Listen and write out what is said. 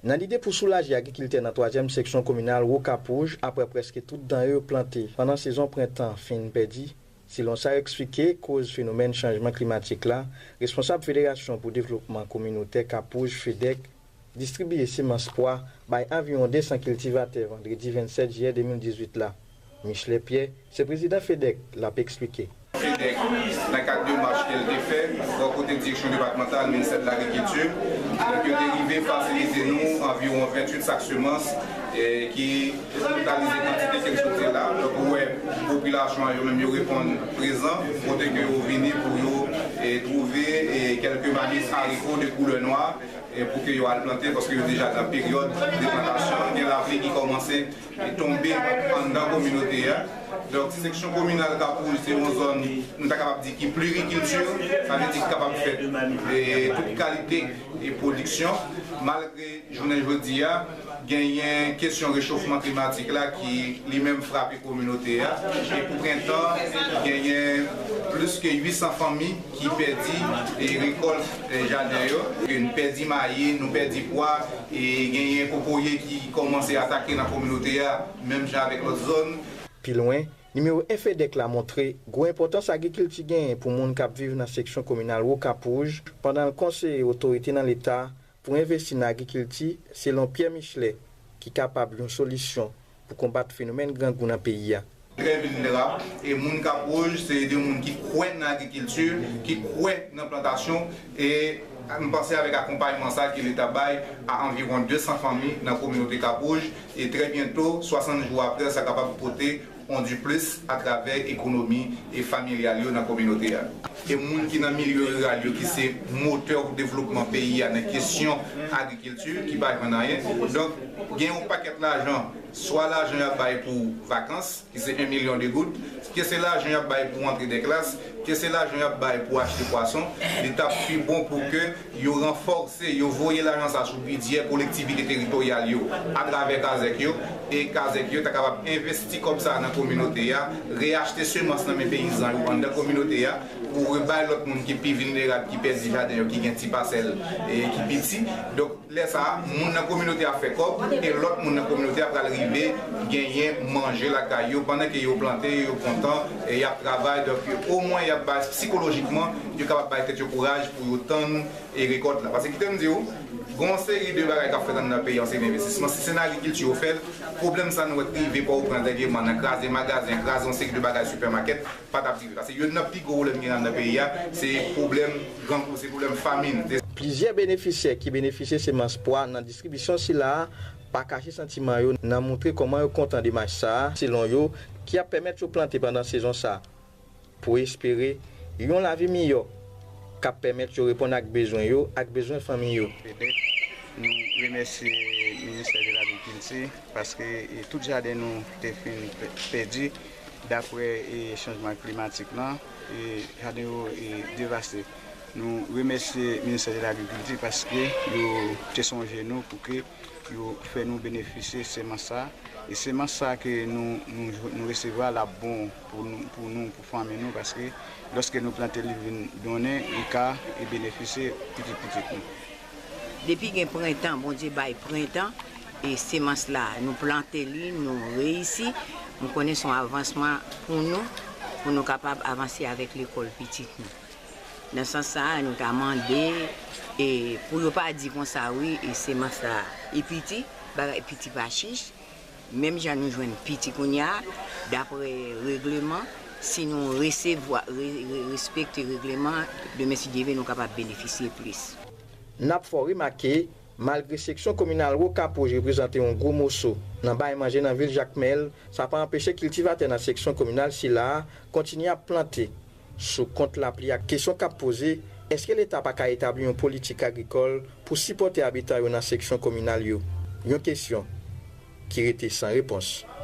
Nan lide pou soulaje agrikiltè nan twazyèm seksyon kominal Wokapouj aprè prèske tout danre yo plante pandan sezon prentan fin pèdi, selon sa yo eksplike koz fenomèn chanjman klimatik la, responsab Federasyon pou Devlopman Kominotè Kapouj, FEDEC, distribiye semans pwa bay anviwon 200 kiltivatè vandredi 27 jiyè 2018 la. Michelet Pierre, se prezidan FEDEC, l ap esplike. FEDEC, nan kad demach ke l te fè bò kote Direksyon Depatmantal Ministè de l'Agriculture, donk yo te rive fasilite nou anviwon 28 sak semans ki totalize kantite ke m sot di la. Donk ou wè popilasyon an yo menm yo reponn prezan kote ke yo vini pou yo twouve kelke manis hariko de koulè nwa pou ke yo al plante paske yo deja nan peryòd de plantasyon. Gen lapli ki kòmanse. Li tonbe anndan kominote a. Donk seksyon kominal Kapoul se yon zòn nou ta kapab di ki plirikilti, sa vle di ki kapab fè tout kalite pwodiksyon. Malgre jounen jodi a genyen kesyon rechofman klimatik la ki li menm frape kominote a e pou prentan genyen plis ke 800 fanmi, ki pèdi e rekòlt jaden yo, ke n pèdi mayi, nou pèdi pwa, e genyen kokoye ki kòmanse atake nan kominote a menm jan avèk lòt zòn. Pi lwen, nimewo 1 FEDEC la montre gwo enpòtans agrikilti genyen pou moun k ap viv nan seksyon kominal Wokapouj pandan l konseye otorite nan leta pou envesti nan agrikilti selon Pierre Michelet ki kapab yon solisyon pou konbat fenomèn grangou nan peyi a. Kervin Mera, e moun Kap Woj se 2 moun ki kwè nan agrikilti, ki kwè nan plantasyon e m panse avèk akonpayman sa ke leta bay a anviwon 200 fanmi nan kominote Kap Woj e trè byento 60 jou aprè sa kapab pote on diplis atravè ekonomi e familyal yo nan kominote a. E moun ki nan milye riral yo ki se motè pou devlopman peyi a nan kesyon agrikilti ki pa jwenn anyen. Donk gen yon pakèt lajan, swa lajan y ap bay pou vakans ki se 1 milyon de goud, ke se lajan y ap bay pou rantre dè klas, ke se lajan y ap bay pou achte pwason, li t ap pi bon pou ke Yo ranfòse, yo voye lajan sa sou bidyè kolektivite teritoryal yo atravè kazèk yo, e kazèk yo ta kapab envesti kòb sa nan kominote a, reyachte semans nan men peyizan yo anndan kominote a, pou rebay lòt moun ki pi vilnerab, ki pèdi jaden yo, ki gen ti pasèl ki piti. Donk, lè sa a, moun nan kominote a fè kòb, e lòt moun nan kominote a pral rive genyen manje lakay yo, pandan ke yo plante, yo kontan, e y ap travay, donk omwen y ap bay sikolojikman, Yo kapab bay tèt yo kouraj pou yo tann rekòt la. Pase kite m di w, gen yon seri de bagay k ap fèt anndan peyi an se envestisman. Si se nan agrikilti yo fè l, pwoblèm sa nou wè k te rive Pòtoprens dènyèman nan kraze magazen, kraze yon seri de bagay sipèmakèt, pa t ap rive. Pase youn nan pi gwo pwoblèm ki gen anndan peyi a, se pwoblèm grangou, se pwoblèm famin. Plizyè benefisyè ki benefisye semans pwa nan distribisyon sila a pa kache santiman yo nan moutre kòman yo kontan demach sa a, selon yo, ki ap pèmèt yo plante pandan sezon sa. pou espere yon lavi miyò k ap pèmèt yo reponn ak bezwen yo ak bezwen fanmi yo. Petèt nou remèsye ministè de lagrikilti paske tout jaden nou te fin pèdi daprè chanjman klimatik lan, jaden yo devaste. Nou remèsye ministè de lagrikilti paske yo te sonje nou pou ke. Yo fè nou benefisye semans sa. E semans sa ke nou resevwa a l ap bon pou nou, pou fanmi nou paske lòske nou plante li vin donnen li ka benefisye pitit pitit nou. Depi gen prentan Bondye bay prentan e semans la nou plante li nou reyisi m konnen s on avansman pou nou pou nou kapab avanse avèk lekòl pitit nou. Nan sans sa a, nou ta mande e pou yo pa di konsa wi e semans la e piti, bagay piti pa chich, menm jan nou jwenn piti kounya a, dapre regleman, si nou resevwa, re, re, respekte regleman, demen si Dye ve nou kapab benefisye plis. N ap fè w remake, malgre seksyon kominal Rokapouj reprezante yon gwo moso nan bay manje nan vil Jakmèl, sa pa anpeche kiltivatè nan seksyon kominal sila a kontinye ap plante, Sou kont lapli a, kesyon k ap poze, èske Leta pa ka etabli yon politik agrikòl pou sipòte abitan yo nan seksyon kominal yo? Yon kesyon ki rete san repons.